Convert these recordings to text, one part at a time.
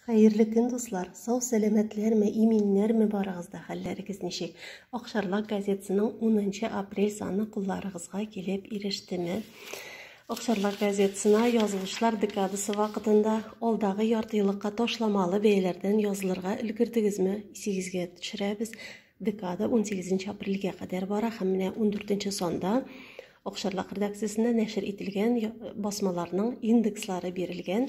Хәерле көн, дуслар! Сау сәламәтләрме, иминнәрме барыгызда хәлләрегез ничек? Акшарлак газетасының 10 апрель саны кулларыгызга килеп ирештеме? Акшарлак газетасына язылышлар декадасы вакытында алдагы ярты еллыкка ташламалы бәяләрдән язылырга өлгердегезме? Исегезгә төшерәбез. Декада 18 апрельгә кадәр бара һәм менә 14 санда Акшарлак редакциясендә нәшер ителгән басмаларның индекслары бирелгән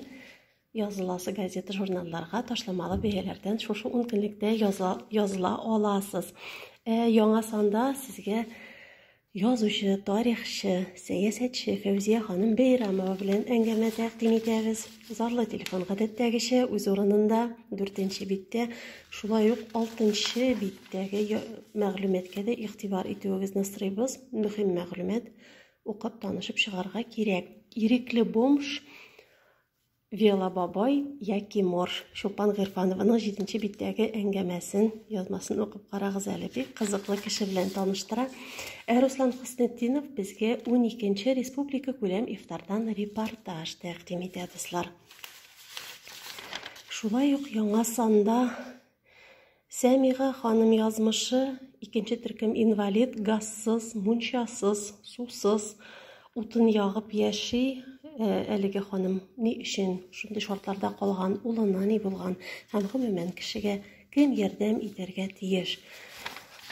языласы газета журналларга ташламалы бәяләрдән шушы ун көнлектә языла, языла аласыз. Ә, яңа санда сезгә Язучы, тарихчы, сәясәтче Фәүзия ханым Бәйрәмова белән әңгәмә тәкъдим итәбез. Зарлы телефон гадәттәгечә үз урынында, дүртенче биттә, шулай ук алтынчы биттәге мәгълүматкә дә игътибар итүегезне сорыйбыз. Мөһим мәгълүмат укып танышып чыгарга кирәк. Ирекле бомж Вела бабай яки морж Чулпан Гыйрфанованың җиденче биттәге әңгәмәсен, язмасын укып карагыз әле. Бик кызыклы кеше белән таныштыра. Ә Руслан Хөснетдинов безгә уникенче республика күләм ифтардан репортаж тәкъдим итә, дуслар. Шулай ук яңа санда Сәмига ханым язмышы, икенче төркем инвалид, газсыз, мунчасыз, сусыз, утын ягып яши, э, әлеге ханым ни өчен шундый шартларда калган, улына ни булган һәм гомумән кешегә кем ярдәм итәргә тиеш?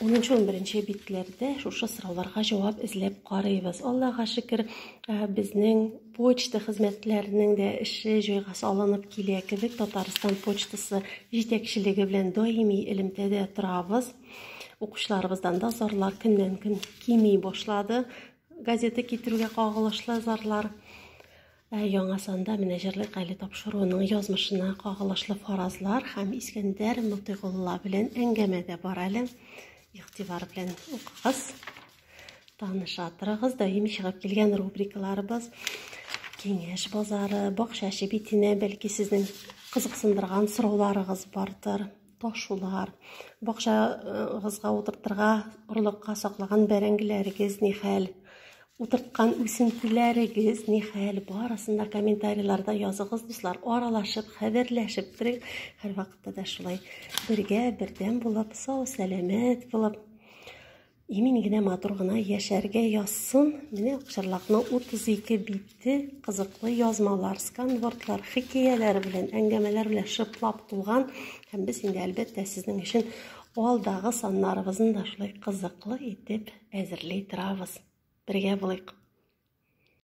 10-11 битләрдә шушы сорауларга җавап эзләп карыйбыз. Аллага шөкер, э, безнең Почта хезмәтләренең дә эше җайга салынып килә кебек. Татарстан почтасы җитәкчелеге белән даими элемтәдә торабыз. Укучыларыбыздан да зарлар көннән-көн кими башлады. Газета китерүгә кагылышлы зарлар. Ә яңа санда менә җырлык әле тапшыруының язмышына кагылышлы фаразлар һәм Искәндәр Мотыйгулла белән әңгәмә дә бар әле. Игътибар белән укыгыз. Таныша торыгыз, даими чыгып килгән рубрикаларыбыз Киңәш базары, бакча чебитенә, бәлки сезнең кызыксындырган сорауларыгыз бардыр. Ташулар, бакчагызга утыртырга орлыкка саклаган бәрәңгеләрегез ни хәл? Утырткан үсентеләрегез ни хәл? Барысын да комментарийларда языгыз, дуслар. Аралашып, хәбәрләшеп торыйк. Һәрвакытта да шулай бергә, бердәм булып, сау, сәламәт булып Имин генә матур гына яшәргә язсын. Менә Акчарлакның 32 бите кызыклы язмалар, сканвордлар, хикәяләр белән, әңгәмәләр белән шыплап тулган. Һәм без инде әлбәттә сезнең өчен алдагы саннарыбызны да шулай кызыклы итеп әзерли торабыз. Бергә булыйк.